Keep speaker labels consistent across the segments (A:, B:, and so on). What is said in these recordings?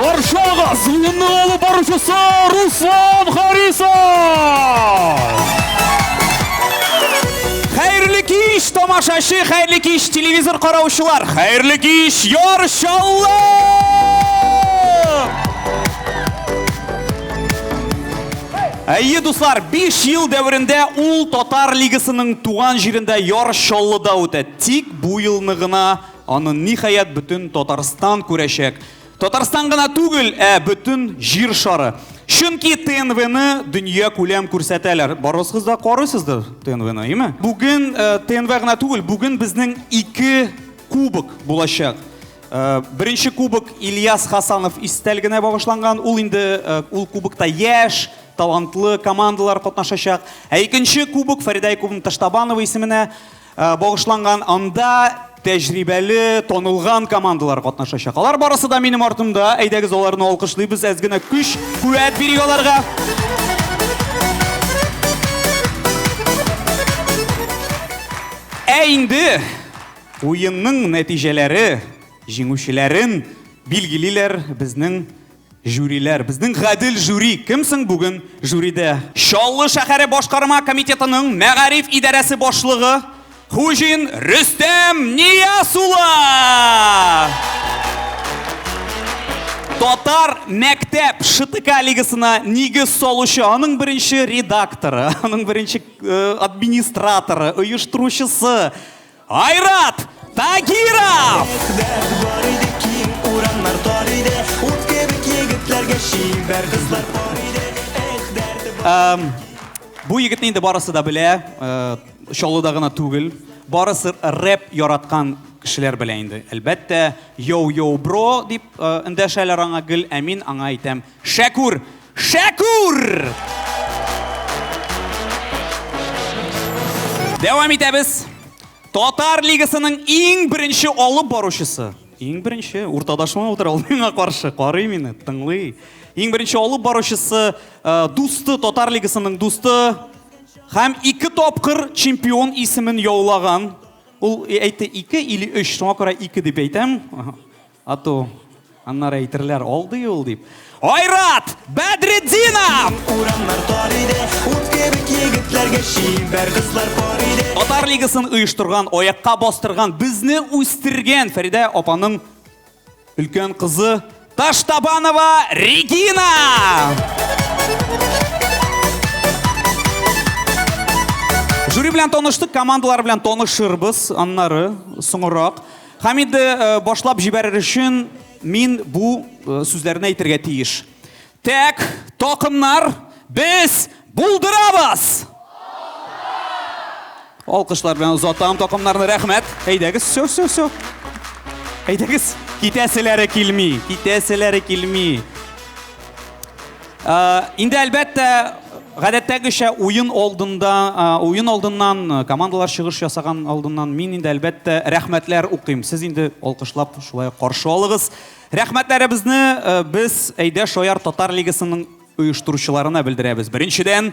A: Каршыга звонны алып баручысы Руслан Харисов! Хәерле кич, тамашачы, хәерле кич, телевизор караучылар, хәерле кич, яр шаллар! Әйе, дуслар, биш ел дәверендә ул Татар Лигасының туган җирендә Яр Чаллыда үтә. Тик бу елны гына аны, ниһаять, бөтен Татарстан күрәчәк. Татарстан гына түгел, ә бөтен Җир шары. Чөнки ТНВны дөньякүләм күрсәтәләр. Барысыз да карыйсыздыр ТНВны, име? Бүген ТНВ гына түгел, бүген безнең ике кубок булачак. Беренче кубок Ильяс Хасанов истәлегенә багышланган. Ул инде ул кубокта яшь, талантлы командалар катнашачак. Ә икенче кубок Фәридә Якубовна Таштабанова исеменә багышланган. Анда тәҗрибәле, танылган командалар катнашачак. Алар барысы да минем артымда. Әйдәгез аларны алкышлыйбыз, әз генә көч, куәт бирик аларга. Ә инде Уенның нәтиҗәләре җиңүчеләрен билгелиләр безнең жюриләр. Безнең гадел жюри. Кем соң бүген жюридә? Чаллы шәһәре башкарма комитетының мәгариф идарәсе башлыгы Хуҗин Рөстәм Нияз улы! Татар мәктәп ШТК лигасына нигез салучы, аның беренче редакторы, аның беренче э, администраторы, оештыручысы, Айрат Тагиров! Бу егетне инде барысы да белә, э, Чаллыда гына түгел. Барысы рэп яраткан кешеләр белә инде. Әлбәттә, йоу-йоу бро дип э, эндәшәләр аңа гел, ә мин аңа әйтәм, Шәкүр! Шәкүр! Дәвам итәбез. Татар лигасының иң беренче алып баручысы. Иң беренче уртадашыма утыра ул миңа каршы карый мине, тыңлый. Иң беренче алып баручысы э, дусты Татар лигасының дусты һәм ике тапкыр чемпион исемен яулаган. Ул әйтте ике или өч, шуңа күрә ике дип әйтәм. Ату, аннары әйтерләр, алдый ул дип. Айрат Бәдретдинов! Урамнар тар иде, ут кебек егетләргә чибәр кызлар бар иде. Татар лигасын оештырган, аякка бастырган, безне үстергән Фәридә апаның өлкән кызы Таштабанова Регина! Жюри белән таныштык, командалар белән танышырбыз, аннары соңрак. Һәм инде э, башлап җибәрер өчен мин бу э, сүзләрне әйтергә тиеш. Тәк, токымнар, без булдырабыз! Алкышлар белән озатам токымнарны, рәхмәт. Әйдәгез, все, все, все. Әйдәгез, китәселәре килми, китәселәре килми. Инде әлбәттә, гадәттәгечә уен алдында, уен алдыннан, командалар чыгыш ясаган алдыннан мин инде әлбәттә рәхмәтләр укыйм. Сез инде алкышлап шулай каршы алыгыз. Рәхмәтләребезне без Әйдә шаяр татар лигасының оештыручыларына белдерәбез. Беренчедән,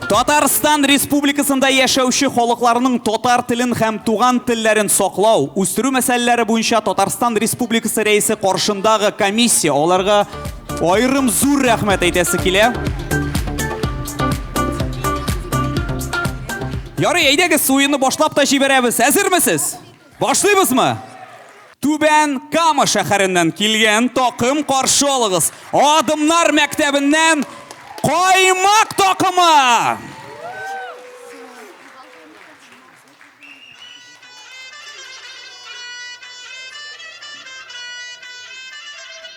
A: Татарстан Республикасында яшәүче халыкларның татар телен һәм туган телләрен саклау, үстерү мәсьәләләре буенча Татарстан Республикасы Рәисе каршындагы комиссия аларга аерым зур рәхмәт әйтәсе килә. Ярый, әйдәгез, суены башлап та җибәрәбез. Әзермесез? Башлыйбызмы? Түбән Кама шәһәреннән килгән такым каршы алыгыз. Адымнар мәктәбеннән Каймак такымы!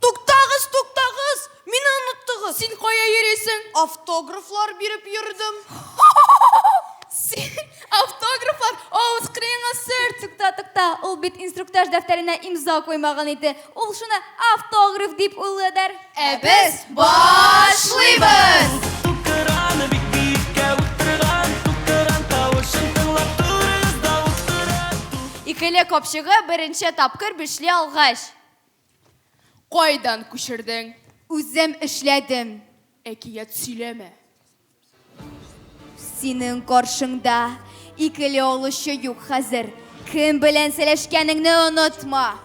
B: Туктагыз, туктагыз!
C: Мине оныттыгыз! Син кая йөрисең?
B: Автографлар
C: биреп йөрдем. Син
B: автографлар авыз кырыеңа сөр! Тукта, тукта, ул бит
C: инструктаж дәфтәренә имза куймаган иде. Ул шуны автограф дип уйладыр. Ә без
B: башлыйбыз!
C: Икеле капчыгы беренче тапкыр бишли алгач.
B: Кайдан күчердең? Үзем
C: эшләдем. Әкият
B: сөйләмә.
C: Синең каршыңда икеле олышчы юк хәзер. Кем белән сәләшкәнеңне онытма.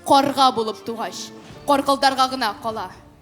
C: Карга
B: булып тугач, каркылдарга гына кала.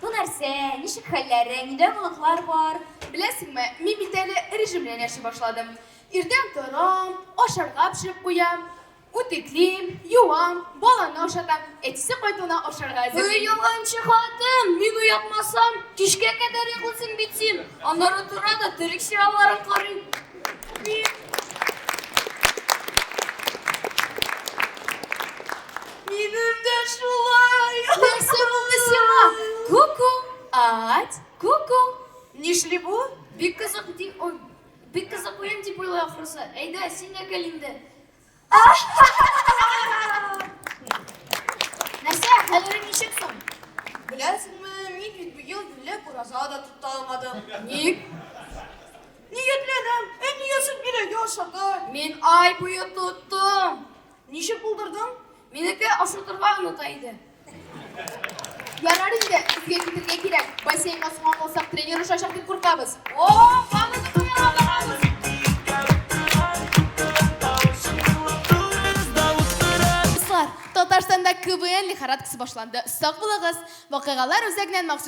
C: Бу нәрсә, ничек хәлләрең, нидә оныклар бар? Беләсеңме, мин
B: бит әле режим белән яши башладым. Иртән торам, ашарга пешереп куям, үтеклим, юам, баланы ашатам, әтисе кайтуына ашарга әзерлим. Ой, ялганчы хатын,
C: мин уятмасам, кичкә кадәр йоклыйсың бит син. Аннары тора да терек чыраларын карыйм.
B: Минем дә шулай. Нәрсә булды сиңа? Ку-ку, ать, ку-ку. Нишли бу? Бик кызык ди,
C: ой, бик кызык уен дип уйлый ахрысы. Әйдә, син дә кел инде. Нәрсә, хәлең ничек соң? Беләсеңме,
B: мин бит быел юләп ураза да тота алмадым. Ник? Ниятләдем, ә ниясен бирә яшәргә. Мин ай буе
C: тоттым. Ничек
B: булдырдың? Минеке
C: ашатырга оныта иде.
B: Ярар инде, сезгә китергә кирәк. Бассейнга суман булсак, тренер ошачак дип куркабыз. О, каны Татарстанда КВН лихорадкасы башланды. Сак булыгыз. Вакыйгалар үзәгеннән махсус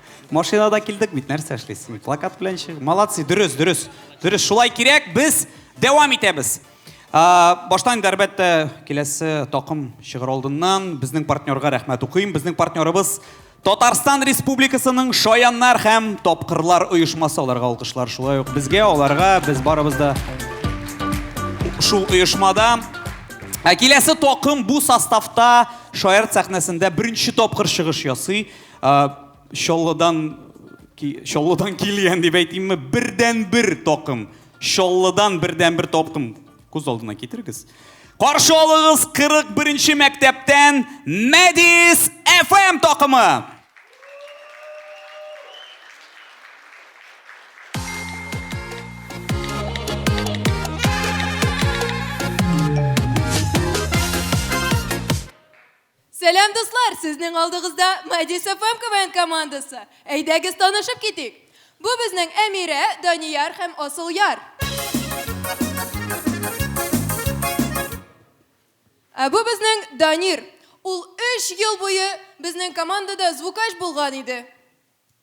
A: Машинада килдек бит, нәрсә эшлисең? Плакат белән чык. Молодцы, дөрес, дөрес. Дөрес, шулай кирәк, без дәвам итәбез. Баштан инде, әлбәттә, киләсе токым чыгыр алдыннан безнең партнерга рәхмәт укыйм. Безнең партнерыбыз Татарстан Республикасының Шаяннар һәм тапкырлар оешмасы аларга алкышлар. Шулай ук безгә, аларга, без барыбыз да шул оешмада. Ә киләсе токым бу составта Шаярт сәхнәсендә беренче тапкыр чыгыш ясый. Чаллыдан Чаллыдан килгән дип әйтимме, бердәнбер токым. Чаллыдан бердәнбер токым. Күз алдына китерегез. Каршы алыгыз 41-нче мәктәптән Мәдис FM токымы.
D: Сәлам дуслар, сезнең алдыгызда Мадис ФМ КВН командасы. Әйдәгез танышып китик. Бу безнең Әмирә, Данияр һәм Асылъяр. Ә бу безнең Данир. Ул өч ел буе безнең командада звукач булган иде.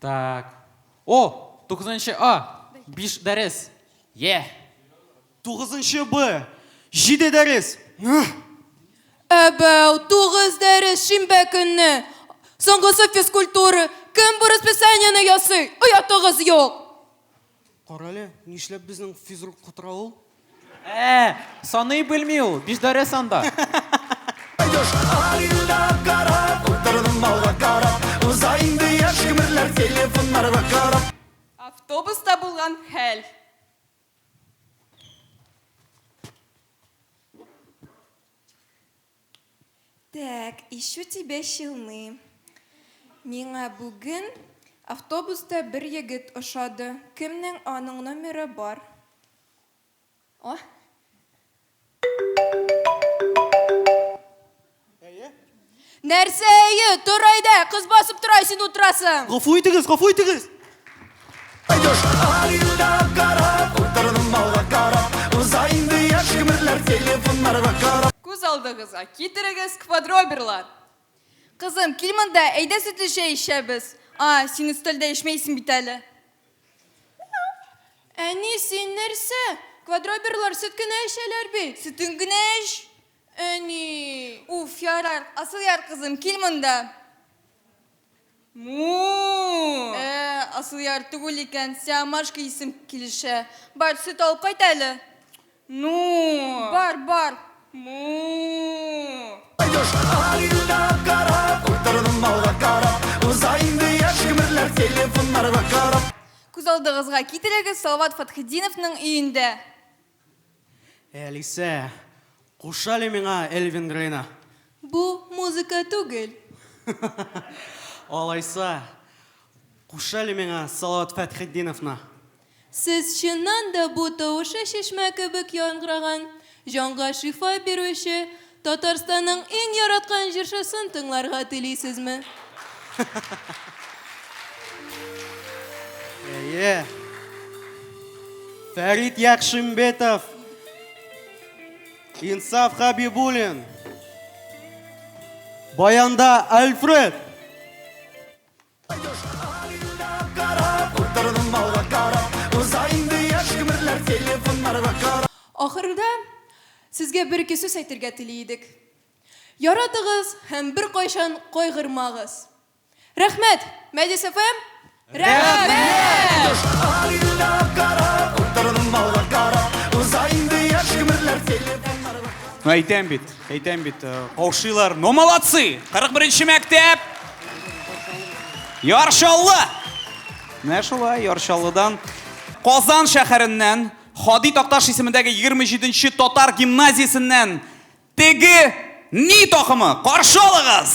E: Так. О, 9 А. Биш дәрес. Е.
F: 9 Б. Җиде дәрес. Әбәү,
D: тугыз дәрес шимбә көнне. Соңгысы физкультура. Кем бу расписаниене ясый? Оятыгыз юк. Карале,
F: нишләп безнең физрук котыра ул? Ә,
E: саный белми ул, бишдәрә санда.
G: Автобуста
D: булган хәл. Так, ищу тебя щелны. Миңа бүген автобуста бер егет ошады. Кемнең аның номеры бар? О. Әйе. Нәрсә әйе? Тор әйдә, кыз басып тора, син утырасың. Гафу итегез, гафу
F: итегез!
G: Күз алдыгызга
D: китерегез квадроберлар. Кызым, кил монда, әйдә сөтле чәй эчәбез. А, син өстәлдә эчмәйсең бит әле. Әни, син нәрсә? Квадроберлар сөт кенә эчәләр бит. Сөтен генә эч. Әни. Уф, ярар. Асылъяр кызым, кил монда. Му-у-у! Ә, Асылъяр түгел икән, Сиамашка исем килешә. Бар, сөт алып кайт әле. Ну-у-у! Бар, бар.
G: Му-у-у! Күз алдыгызга
D: китерегез, Салават Фатхетдиновның өендә. Әлисә,
F: куш әле миңа Элвин Грейны. Бу
D: музыка түгел.
F: Алайса, куш әле миңа Салават Фәтхетдиновны. Сез
D: чыннан да бу тавышы чишмә кебек яңгыраган, җанга шифа бирүче Татарстанның иң яраткан җырчысын тыңларга телисезме?
F: Әйе. Фәрит Яхшимбетов. Инсаф Хабибулин. Баянда Альфред.
G: Ахырда
D: сезгә бер-ике сүз әйтергә тели идек. Яратыгыз һәм беркайчан кайгырмагыз. Рәхмәт, Мәҗлес FM!
G: Әйтәм бит. Әйтәм бит, э,
A: каушыйлар. Но молодцы! 41-нче мәктәп! Ярчаллы! Менә шулай, Ярчаллыдан. Казан шәһәреннән, Хади Такташ исемендәге 27-нче татар гимназиясеннән теге ни токымы? Каршы алыгыз!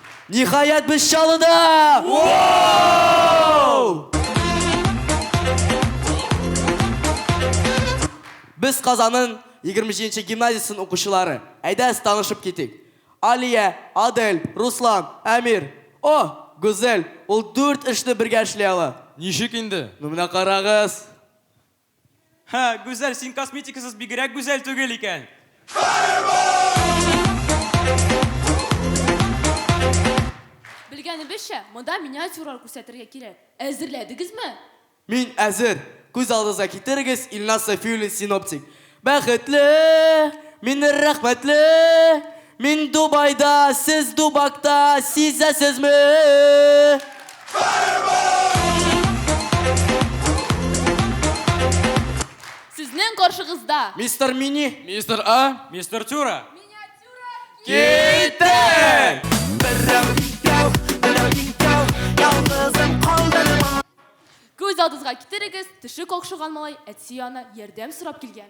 F: Ниһаять без Чаллыда! Без Казанның 27 гимназиясен укучылары. Әйдәс танышып китик. Алия, Адель, Руслан, Әмир. О, Гүзәл, ул дүрт эшне бергә эшли ала. Ничек инде? Ну
E: менә карагыз.
F: Һә,
H: Гүзәл, син косметикасыз бигрәк гүзәл түгел икән.
I: Белгәнебезчә, монда миниатюралар күрсәтергә кирәк. Әзерләдегезме? Мин
F: әзер! Күз алдыгызга китерегез, Илназ Сафиуллин, синоптик. Бәхетле! Мине рәхмәтле! Мин Дубайда, сез Дубакта, сизәсезме?
I: Сезнең каршыгызда. Мистер Мини.
F: Мистер А.
E: Мистер Тюра.
H: Киттек!
G: Күз
I: алдызга китерегез, төше какшыган малай әти янына ярдәм сорап килгән.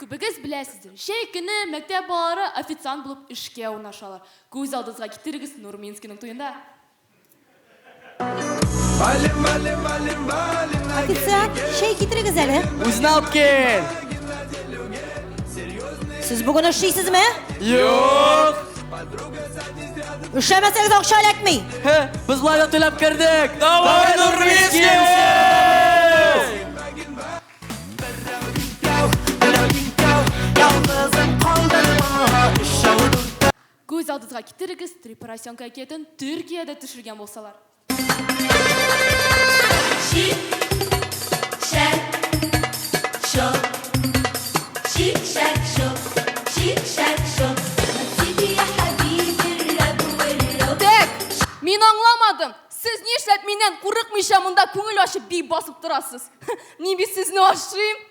I: Күбегез беләсездер, җәй көне мәктәп балалары официант булып эшкә урнашалар. Күз алдыгызга китерегез, Нурминскийның туенда.
J: Официант, чәй китерегез әле. Үзенә алып кил. Сез бүген эшлисезме? Юк. Эшләмәсәгез акча эләкми. Хе, без лайда
F: түләп кердек. Давай, Нурмиски!
G: Күз алдызга
I: китерегез, Три поросенка әкиятен Төркиядә төшергән булсалар. Мин аңламадым. Сез нишләп миннән курыкмыйча монда күңел ачып би басып торасыз? Мин бит сезне ашыйм.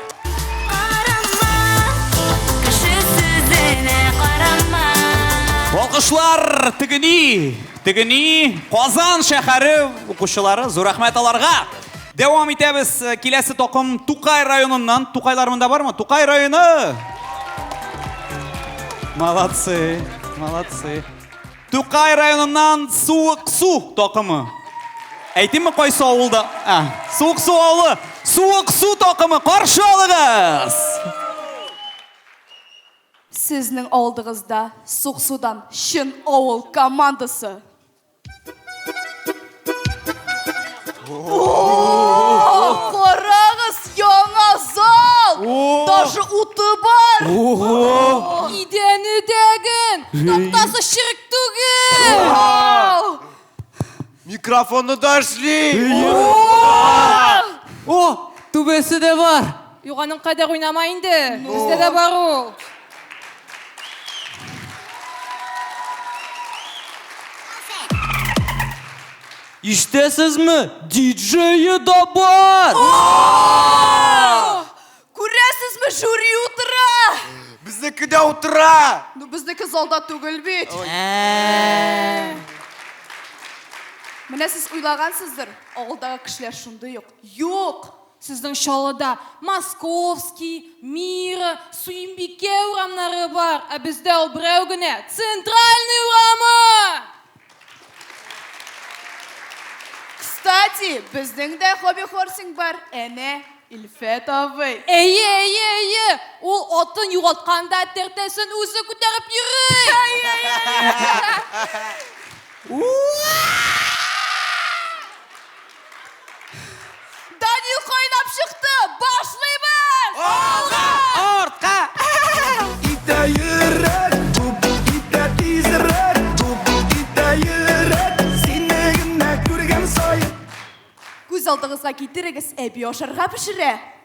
A: Алкышлар тегени, тегени Казан шәһәре укучылары, зур рәхмәт аларга. Дәвам итәбез. Киләсе токым Тукай районыннан. Тукайлар монда бармы? Тукай районы! Молодцы, молодцы. Тукай районыннан Суык су такымы. Әйтимме кайсы авылда? Ә, Суык су авылы. Суык су такымы каршы алыгыз.
B: Сезнең алдыгызда Сук судан чын авыл командасы. Карагыз, яңа зал! Даже уты бар! Ого!
D: Идәне дәген! Тактасы черек түгел!
F: Микрофоны да эшли! О, түбәсе дә бар! Юк, аның кадәр
D: уйнама инде. Бездә дә бар ул.
F: Иштәсезме? Диджее да бар!
B: Күрәсезме, жюри утыра! Безнеке дә
F: утыра! Ну, безнеке залда
B: түгел бит. Ә. Менә сез уйлагансыздыр, авылдагы кешеләр шундый ук. Юк! Сезнең Чаллыда
D: Московский, Мира, Суембикә урамнары бар, ә бездә ул берәү генә, Центральный урамы!
B: Кстати, безнең дә хобби-хорсинг бар, әнә, Илфәт абый. Әйе, әйе, әйе,
D: ул атын югалтканда тәртәсен үзе күтәреп йөри!
B: Данил кайнап чыкты! Башлыйбыз! Алга!
F: Артка!
G: Китә йөрәк, туп, китә тизрәк, туп, китә йөрәк, сине генә күргән саен. Күз
B: алдыгызга китерегез, әби ашарга пешерә.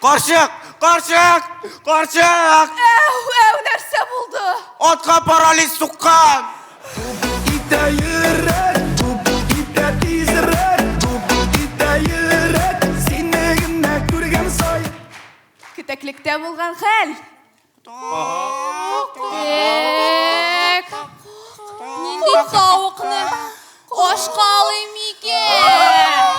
K: Карчык!
L: Карчык! Карчык! Әу, әу,
I: нәрсә булды? Атка парализ
L: суккан!
G: Итә йөрәк, тупыл итә тизрәк, тупыл итә йөрәк, сине генә күргән сай. Кетәклектә
I: булган хәл. Эк.
D: Нинди тауыкны ашка алыйм микән?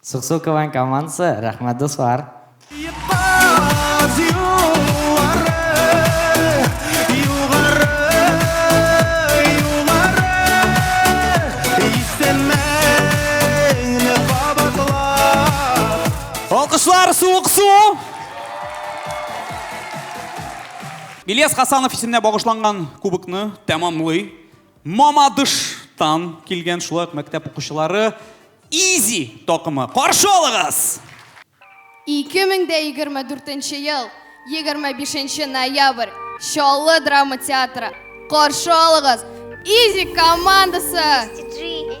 M: Суксу Квн командасы, рәхмәт дуслар!
G: Алкышлар
A: Суыксу! Ильяс Хасанов исеменә багышланган кубокны тәмамлый. Мамадыштан килгән шулай ук мәктәп укучылары Изи такымы. Каршы алыгыз!
C: 2024 ел 25 ноябрь Чаллы драма театры. Каршы алыгыз! Изи командасы!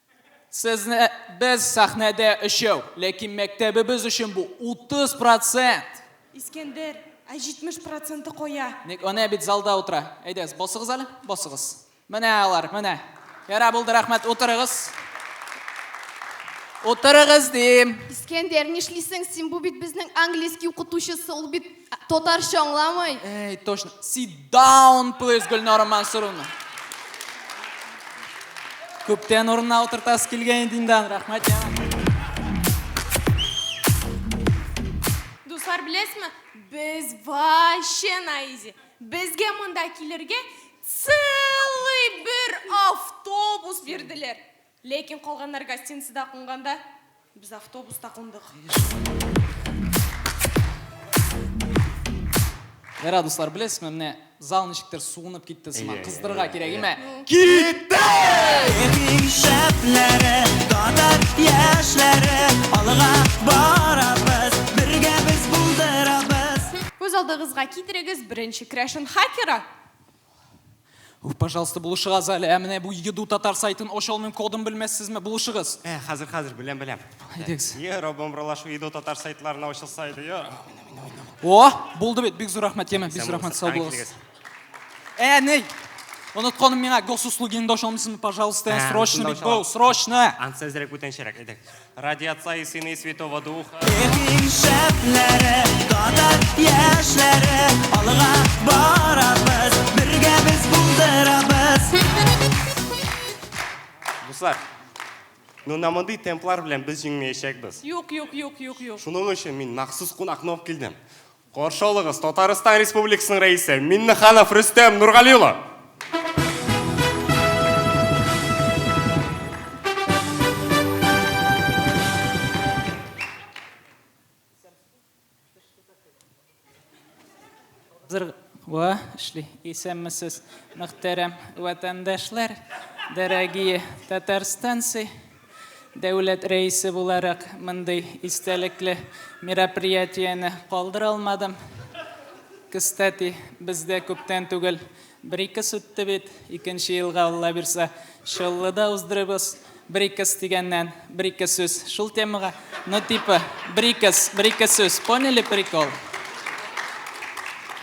E: Сезне без сәхнәдә өчәү, ләкин мәктәбебез өчен бу, 30 процент! Искәндәр,
D: ә 70 проценты кая? Ник, әнә бит залда
E: утыра. Әйдәгез, басыгыз әле, басыгыз. Менә алар, менә. Ярар, булды, рәхмәт, утырыгыз. Утырыгыз, дим. Искәндәр, нишлисең
C: син, бу бит безнең английский укытучысы, ул бит. Татарча аңламый. Эй, точно. Sit
E: down, please, Гөлнара Мансуровна. Күптән урынына утыртасы килгән инде инде. Рәхмәт, яңа.
D: Дуслар, беләсезме? Без вообще на изи. Безгә монда килергә целый бер автобус бирделәр. Ләкин калганнар гостиницада кунганда, без автобуста кундык. Ярар,
E: дуслар, беләсезме, менә зал ничектер суынып китте сыман. Кыздырырга кирәк, имә. Бик
G: шәпләре, татар яшьләре, алга барабыз, бергә без булдырабыз. Күз алдыгызга
D: китерегез, беренче керәшен хакеры. Уф, пожалуйста,
E: булышыгыз әле. Ә менә бу еду татар сайтын ача алмыйм, кодын белмәссезме? Булышыгыз. Ә, хәзер, хәзер, беләм,
L: беләм. Әйдәгез. Йә,
E: Раббым, ралашу еду
L: татар сайтларына ачылса иде, йә.
E: О, булды бит, бик зур рәхмәт, Ямен, бик зур рәхмәт, сау булыгыз. Ә, ней! Онытканым миңа госуслугиңда ача алмыйсызмы, пожалуйста, ә, срочно бит бу, срочно! Ансы әзрәк бүтәнчәрәк,
L: әйдәгез. Ради Отца и Сына и Святого Духа. Эпин шәпләре,
G: татар яшьләре, алга барабыз, бергә без булдырабыз.
L: Дуслар, ну на мондый темплар белән без җиңмәячәкбез. Юк, юк, юк, юк,
D: юк. Шуның
L: өчен мин махсус кунакны алып килдем. Каршы алыгыз, Татарстан Республикасының Рәисе Миннеханов Рөстәм Нургали улы!
N: Ва, эшли. Исәнмесез, мөхтәрәм ватандашлар, дорогие татарстанцы! Дәүләт Рәисе буларак мондый истәлекле мероприятиене калдыра алмадым. Кстати, бездә күптән түгел Брикс үтте бит, икенче елга, Алла бирса, Чаллыда уздырырбыз. Брикс дигәннән, бер-ике сүз шул темага, ну типа Брикс, бер-ике сүз, поняли прикол?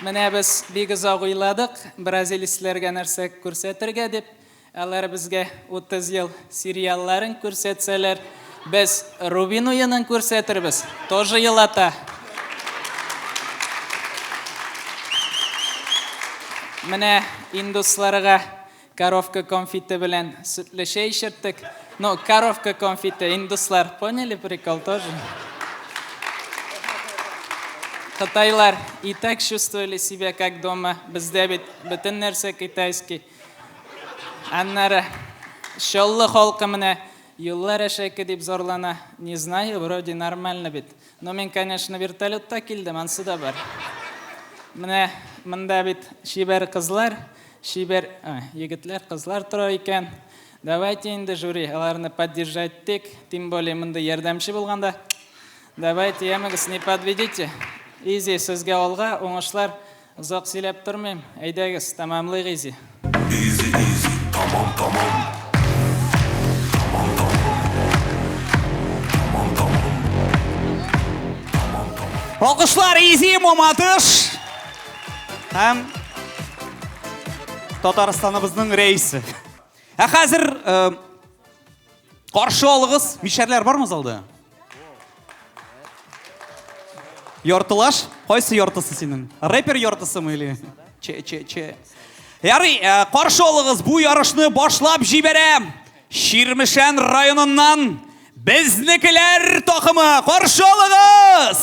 N: Менә без бик озак уйладык, бразилецләргә нәрсә күрсәтергә дип. Алар безгә 30 ел сериалларын күрсәтсәләр, без Рубин уенын күрсәтербез. Тоже елата. Менә индусларга коровка конфиты белән сөтле чәй эчерттек. Ну, коровка конфиты, индуслар, поняли прикол тоже? Кытайлар и так чувствовали себя как дома, бездә бит бөтен нәрсә китайский. Аннары Чаллы халкы менә юллар әшәке дип зарлана. Не знаю, вроде нормально бит. Но мин, конечно, вертолетта килдем, ансы да бар. Менә монда бит чибәр кызлар, чибәр егетләр, кызлар тора икән. Давайте инде жюри, аларны поддержать итик. Тем более мондый ярдәмче булганда. Давайте, ямыгыз, не подведите. Изи сезгә алга, уңышлар. Озак сөйләп тормыйм, әйдәгез, тәмамлыйк изи. Изи
G: изи, тамам тамам. Тамам тамам. Тамам
A: тамам. Тамам тамам. Алкышлар изи мамадыш. Һәм Татарстаныбызның рәисе. Ә хәзер э, каршы алыгыз, мишәрләр бармы залда? Яртылаш? Кайсы яртысы синең? Рэпер яртысымы или? Че, че, че. Ярый, э, каршы алыгыз, бу ярышны башлап җибәрәм. Ширмешән районыннан безнекеләр токымы каршы алыгыз!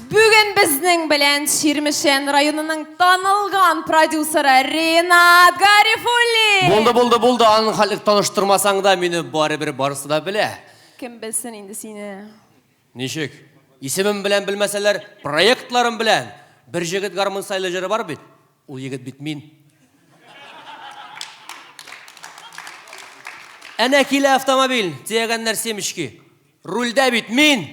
I: Бүген безнең белән Чирмешән районының танылган продюсеры Ринат Гарифуллин. Булды, булды, булды. Аның
F: халык таныштырмасаң да, мине барыбер барысы да белә. Кем белсен инде
I: сине. Ничек?
F: Исемем белән белмәсәләр, проектларым белән. Бер җегет гармун сайлы җыры бар бит. Ул егет бит мин. Әнә килә автомобиль, төягәннәр семечки. Рульдә бит мин!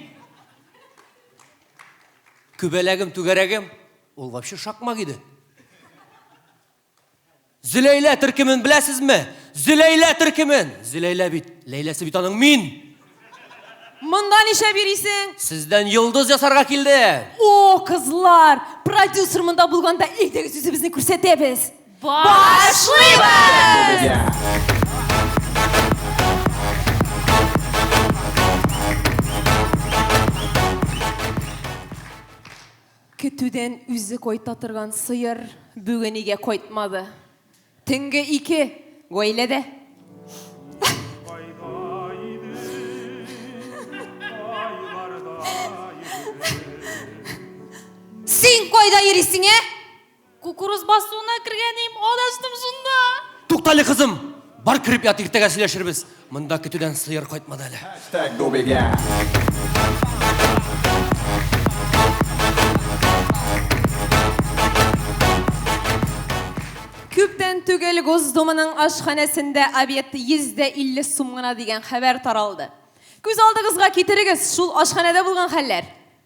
F: Күбәләгем, түгәрәгем, ул вообще шакмак иде. Зөләйлә төркемен беләсезме? Зөләйлә төркемен. Зөләйлә бит, Ләйләсе бит аның мин.
I: Монда ничә бирисең? Сездән йолдыз
F: ясарга килде. О, кызлар,
I: продюсер монда булганда әйдәгез үзебезне күрсәтәбез. Башлыйбыз! Көтүдән үзе кайта торган сыер бүген өйгә кайтмады. Төнге ике гаиләдә.
J: Син кайда йөрисең, ә? Кукуруз
I: басуына кергәнем, адаштым шунда. Туктале, кызым,
F: бар кереп ят, иртәгә сөйләшербез. Монда көтүдән сыер кайтмады әле.
I: Күптән түгел Госдуманың ашханәсендә обед 150 сум гына дигән хәбәр таралды. Күз алдыгызга китерегез, шул ашханәдә булган хәлләр.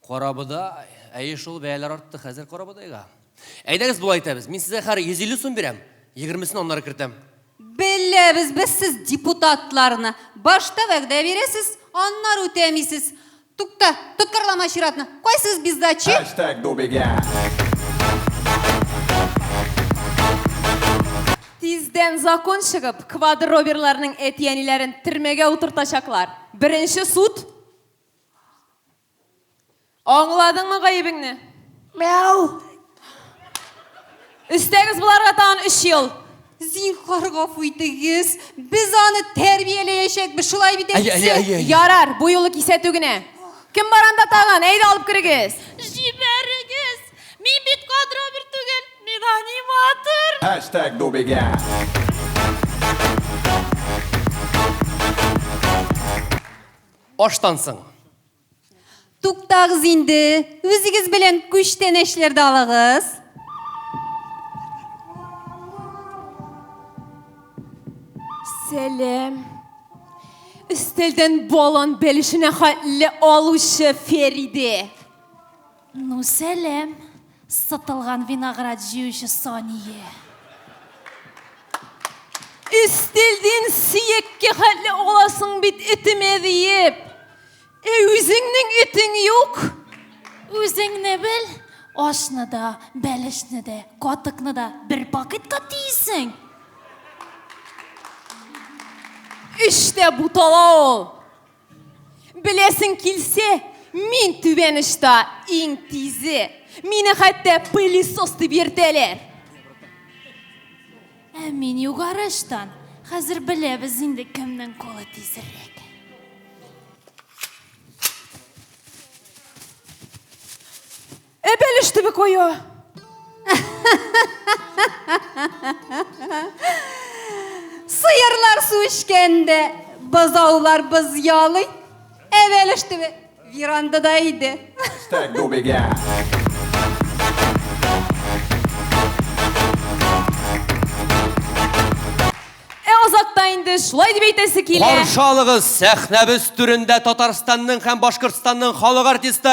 J: Карабодай.
F: Әйе шул, бәяләр артты хәзер карабодайга. Әйдәгез болай итәбез, мин сезгә хәр 150 сум бирәм, егермесен аннары кертәм. Беләбез
J: без сез депутатларны, башта вәгъдә бирәсез, аннары үтәмисез. Тукта, тоткарлама чиратны, кайсыгыз бездачи? Хэштег Дубиге.
I: Тиздән закон чыгып, квадроберларның әти-әниләрен төрмәгә утыртачаклар. Беренче суд. Аңладыңмы гаебеңне? Мяу! Өстәгез боларга тагын өч ел. Зинхар
J: гафу итегез, без аны тәрбияләячәкбез, шулай бит, әйтсе? Әйе, әйе, әйе. Ярар, бу юлы
I: кисәтү генә. Кем бар анда тагын? Әйдә алып керегез. Җибәрегез!
C: Мин бит кадровер түгел, мин аниматор! Хэштег Дубиге.
E: Аштан соң. Туктагыз
J: инде, үзегез белән күчтәнәчләрдә алыгыз.
I: Сәлем. Өстәлдән балан бәлешенә хәтле алучы Фериде.
C: Ну сәлам, сытылган виноград җыючы Сание!
I: Истилдин сиекке хәтле аласың бит этемә диеп. Ә үзеңнең этең юк. Үзеңне
C: бел, ашны да, бәлешне дә, катыкны да бер пакетка тиисең.
I: Эштә бутала ул. Беләсең килсә, мин түбәнешта иң тизе. Мине хәтта пылесос дип йөртәләр.
C: Ә мин югарыштан. Хәзер беләбез инде кемнең кулы тизрәк.
I: Эбелеш төбе кое.
J: Сыерлар су эчкәндә, бозаулар боз ялый. Эбелеш төбе верандада иде. Стәк
G: дубегә.
I: инде шулай дип әйтәсе килә. Каршы алыгыз
E: сәхнәбез түрендә Татарстанның һәм Башкортстанның халык артисты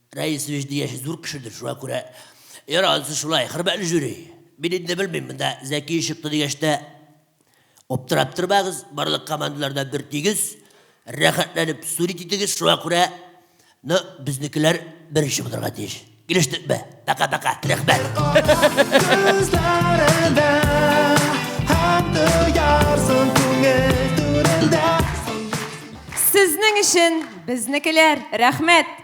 O: Рәис Вәҗди яше зур кешедер, шуңа күрә Яр анысы шулай, хөрмәтле жюри. Мин инде белмим, монда Зәки чыкты дигәч тә аптырап тормагыз, барлык командалар да бер тигез, рәхәтләнеп сурит итегез, шуңа күрә ну, безнекеләр беренче булырга тиеш. Килештекме? Пока-пока. Рәхмәт.
I: Сезнең өчен безнекеләр. Рәхмәт.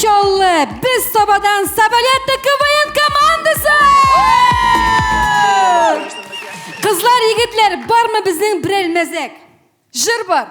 J: Чаллы, без Сабадан Сабалетта КВН командасы! Кызлар, егетләр, бармы безнең берәр мәзәк? Жыр бар.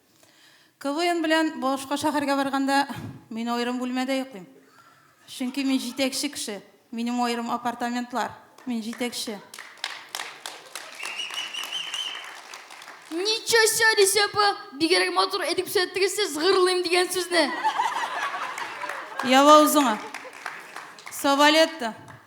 P: КВН белән башка шәһәргә барганда, мин аерым бүлмәдә йоклыйм. Чөнки мин җитәкче кеше. Минем аерым апартаментлар. Мин җитәкче.
C: Ничо ся, Лисия апа, бигерәк матур әйтеп күрсәттегез сез гырлыйм дигән сүзне. Ява
P: узыңа. Савалетто.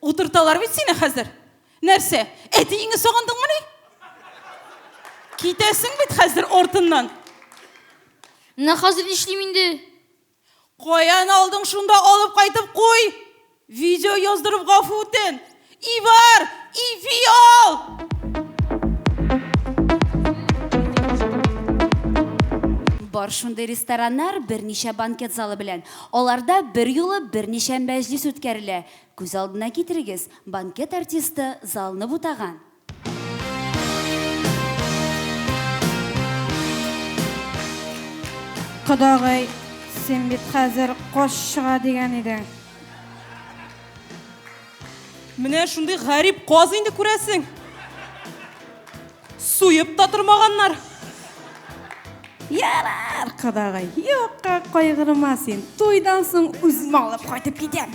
P: Утырталар бит сине хәзер. Нәрсә? Әтиеңне сагындыңмыни? Китәсең бит хәзер артыннан.
C: Менә хәзер нишлим инде? Каян
P: алдың шунда алып кайтып куй. Видео яздырып гафу үтен. Ивар, иви ал!
Q: Бар шундый рестораннар берничә банкет залы белән. Аларда берьюлы берничә мәҗлес үткәрелә. Күз алдына китерегез, банкет артисты залны бутаган.
J: Кодагый, син бит хәзер кош чыга дигән идең.
D: Менә шундый гарип каз инде, күрәсең. Суеп та тормаганнар.
J: Ярар, кадагай, юкка кайгырма син. Туйдан соң үзем алып кайтып китәм.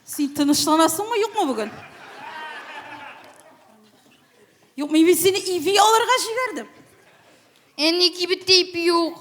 P: Син тынычланасыңмы, юкмы бүген? Юкмы, мин сине иви алырга җибәрдем.
C: Әни кибеттә ипи юк.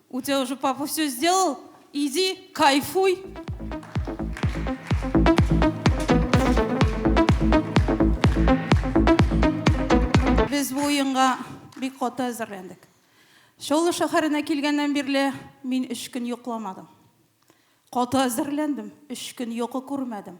P: У тебя уже папа все сделал, иди, кайфуй. Без бу уенга бик каты әзерләндек. Чаллы шәһәренә килгәннән бирле мин өч көн йокламадым. Каты әзерләндем, өч көн йокы күрмәдем.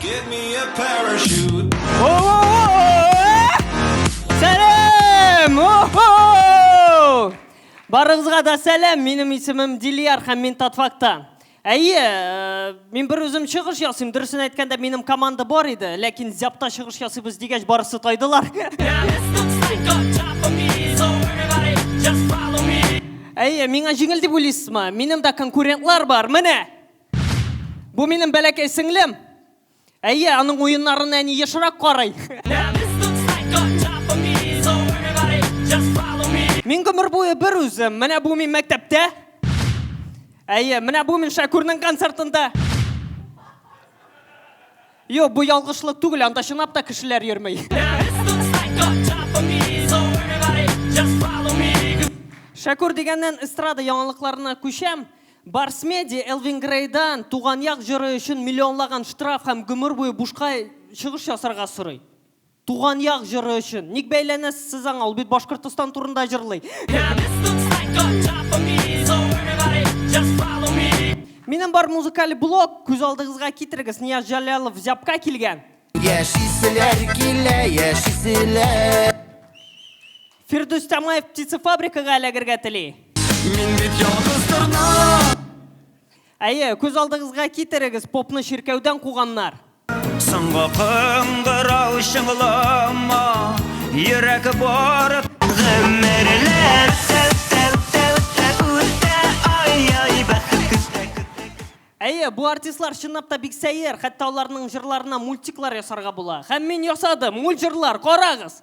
R: Give me a parachute.
H: Oh, oh, oh, Сәлем! О-хо! Барыгызга да сәлем. Минем исемем Дилияр һәм мин Татфакта. Әйе, э, мин бер үзем чыгыш ясыйм. Дөресен әйткәндә, минем команда бар иде, ләкин зяпта чыгыш ясыйбыз дигәч, барысы тайдылар. Әйе, миңа җиңел дип уйлыйсызмы? Минем дә конкурентлар бар, менә! Бу минем бәләкәй сеңлем. Әйе, аның уеннарын әни ешрак карый. Мин гомер буе бер үзем. Менә бу мин мәктәптә. Әйе, менә бу мин Шакүрнең концертында. Юк, бу ялгышлык түгел, анда чынлап та кешеләр йөрми. Шәкүр дигәннән эстрада яңалыкларына күчәм. Барс Меди Элвин Грейдан туган як җыры өчен миллионлаган штраф һәм гомер буе бушка чыгыш ясарга сорый. Туган як җыры өчен. Ник бәйләнәсез сез аңа, ул бит Башкортостан турында җырлый. Минем бар музыкаль блог, күз алдыгызга китерегез, Нияз Җәләлов Зябка килгән. Яшиселәр
G: килә, яшиселәр.
H: Фирдүс Тямаев птицефабрикага эләгергә тели. Мин бит
G: ялгыз торна.
H: Әйе, күз алдыгызга китерегез, попны чиркәүдән куганнар. Соңгы
G: кыңгырау чыңлама, йөрәк бар. Гомерләр Әйе,
H: бу артистлар чынлап та бик сәер, хәтта аларның җырларына мультиклар ясарга була. Һәм мин ясадым, мульт җырлар, карагыз!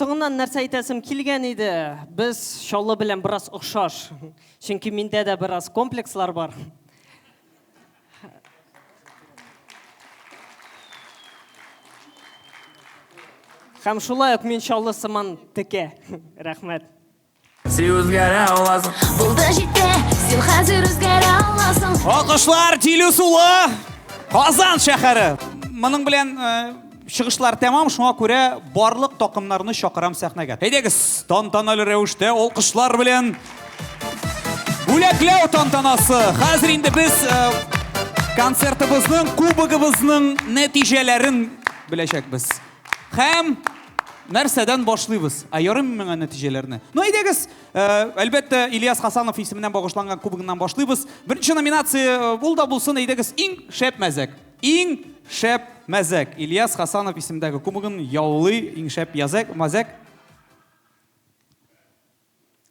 H: соңыннан нәрсә әйтәсем килгән иде. Без Чаллы белән бераз охшаш. Чөнки миндә дә бераз комплекслар бар. Һәм шулай ук мин Чаллы сыман текә. Рәхмәт. Син
E: үзгәрә аласың. Булды җитте,
C: син хәзер үзгәрә аласың. Алкышлар Тилү
A: сулы Казан шәһәре. Моның белән э, чыгышлар тәмам, шуңа күрә барлык такымнарны чакырам сәхнәгә. Әйдәгез, тантаналы рәвештә алкышлар белән бүләкләү тантанасы. Хәзер инде без э, концертыбызның, кубогыбызның нәтиҗәләрен беләчәкбез. Һәм нәрсәдән башлыйбыз? Ә ярыймы миңа нәтиҗәләрне? Ну, әйдәгез, э, әлбәттә, Ильяс Хасанов исеменнән багышланган кубогыннан башлыйбыз. Беренче номинация э, ул да булсын, әйдәгез, иң шәп мәзәк. Иң шәп мәзәк. Ильяс Хасанов исемендәге кубогын яулый иң шәп язәк, мәзәк.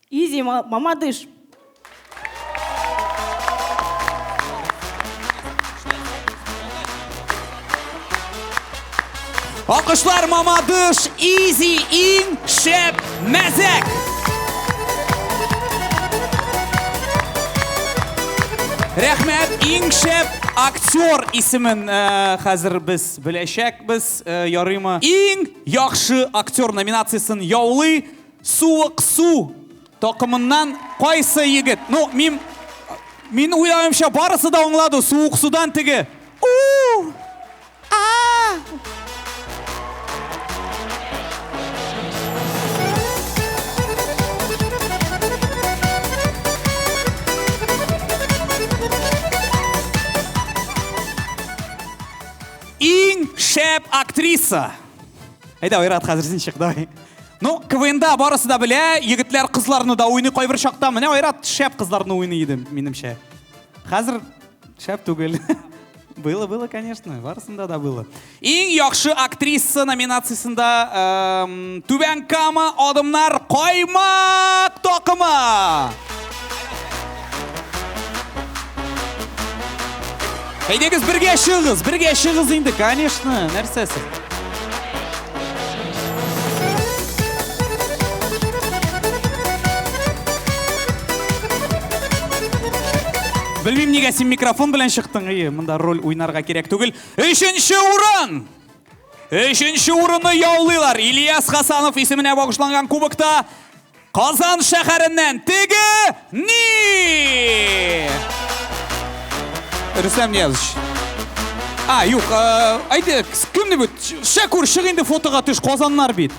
S: Изи, мамадыш!
A: Алкышлар мамадыш, изи, ин, шеп, мәзәк! Рәхмәт, ин, шеп, актер исемен хәзер без беләчәк, без ярыйма. Ин, яхшы актер номинациясен яулый. Суык су токымыннан кайсы егет? Ну, мин мин уйлавымча барысы да аңлады. Суык судан теге. У! А! Иң шәп актриса. Әйдә, Айрат, хәзер син чык, давай. Ну, КВНда барысы да белә, егетләр кызларны да уйный кайбер чакта. Менә Айрат шәп кызларны уйный иде, минемчә. Хәзер шәп түгел. Было, было, конечно, барысында да было. Иң яхшы актриса номинациясендә эм, Түбән Кама адымнар Каймак такымы! Әйдәгез бергә чыгыз, бергә чыгыз инде, конечно, нәрсәсе. Белмим, нигә син микрофон белән чыктың, ие, монда роль уйнарга кирәк түгел. Өченче урын! Өченче урынны яулыйлар. Ильяс Хасанов исеменә багышланган кубокта Казан шәһәреннән теге ни? Рөстәм Ниязович. А, юк, әйдә, кем дип үт? Шәкүр, чык инде фотога төш, Казаннар бит.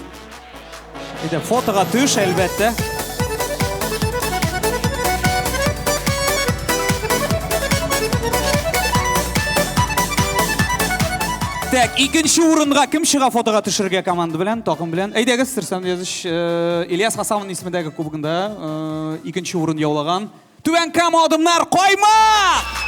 A: Әйдә, фотога төш, әлбәттә. Так, икенче урынга кем чыга фотога төшергә команда белән, токым белән? Әйдәгез, Сырсан Языч. Ильяс Хасановның исемендәге кубогында икенче урын яулаган Түбән Кама адымнар Каймак!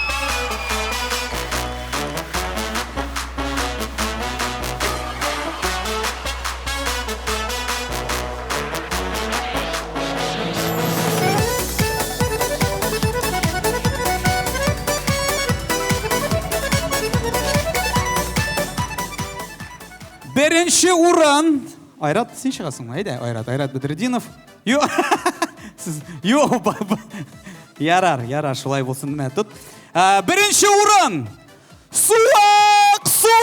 A: Беренче урын Айрат, син чыгасыңмы? Әйдә, Айрат, Айрат Бедрединов. Ю! Сез, ю, Ярар, ярар, шулай булсын. Менә тут. Ә, Беренче урын! Суак су!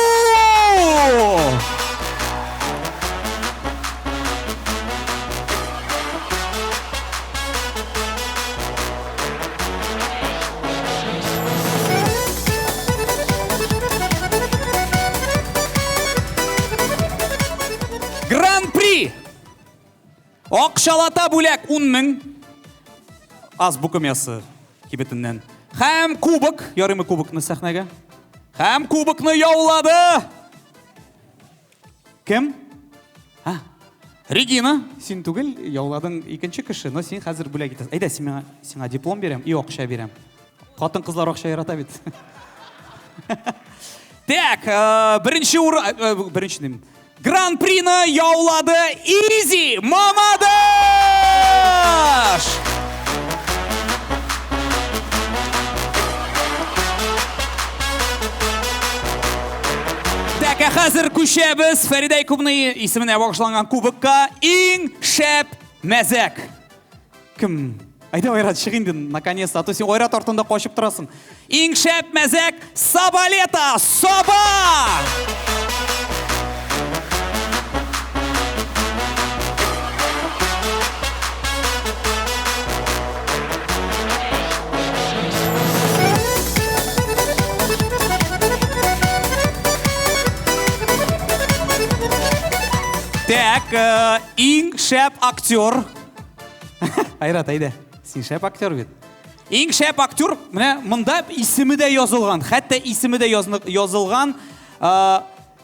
A: Гран-при! Акшалата бүләк 10 мең. Аз букым ясы кибетеннән. Хәм кубок, ярымы кубокны сәхнәгә. Хәм кубокны яулады! Кем? Ха. Регина, син түгел, яуладың икенче кеше, но син хәзер бүләк итәсең. Әйдә, сиңа сиңа диплом бирәм и акча бирәм. Хатын-кызлар акча ярата бит. Так, э, беренче ур... Э, э, беренче дим. Гран-прины яулады Изи Мамадыш! Тәкә хәзер күчәбез Фәридә Якубный исеменә багышланган кубокка иң шәп мәзәк. Кем? Әйдә Айрат чык инде наконец-то, а то син Айрат артында качып торасың. Иң шәп мәзәк Сабалета! Саба! Так, э, иң шәп актер. Айрат, әйдә. Син шәп актер бит. Иң шәп актер, менә монда исеме дә язылган. Хәтта исеме дә язылган. Э,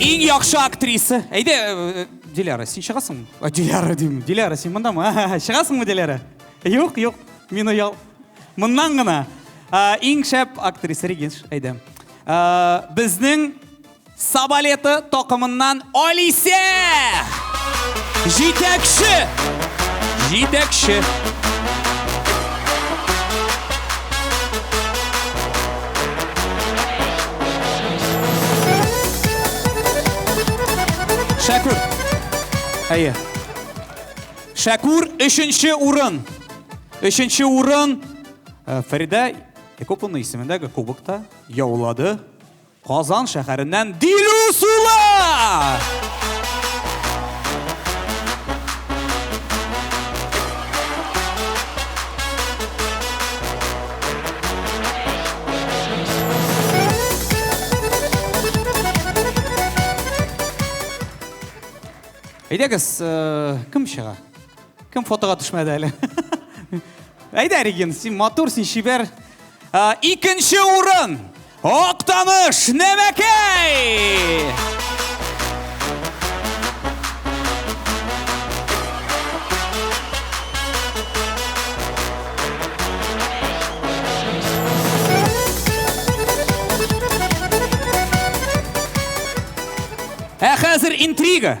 A: Иң яхшы актриса. Әйдә, э, Диляра, син чыгасыңмы? А, Диляра дим. Диляра, син мондамы? Ага, Чыгасыңмы, Диляра? Юк, юк. Мин оял. Моннан гына. А, Иң шәп актриса Регинш, әйдә. А, Безнең Сабалеты токымыннан Алисә! Җитәкче! Җитәкче! Шәкүр. Әйе. Шәкүр өченче урын. Өченче урын э, Фәридә Якуповна исемендәге кубокта яулады. Казан шәһәреннән Дилүс улы! Әйдәгез, э, кем чыга? Кем фотога төшмәде әле? Әйдә, Регин, син матур, син чибәр. Ә, икенче урын Актаныш Нәмәкәй! Ә хәзер интрига.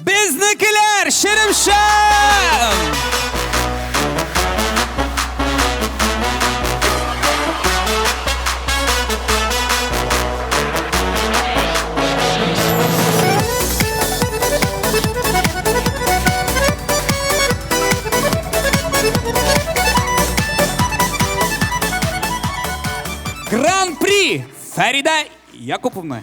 A: Безнекеләр, Шеремшан! Гран-при Фәридә Якуповна.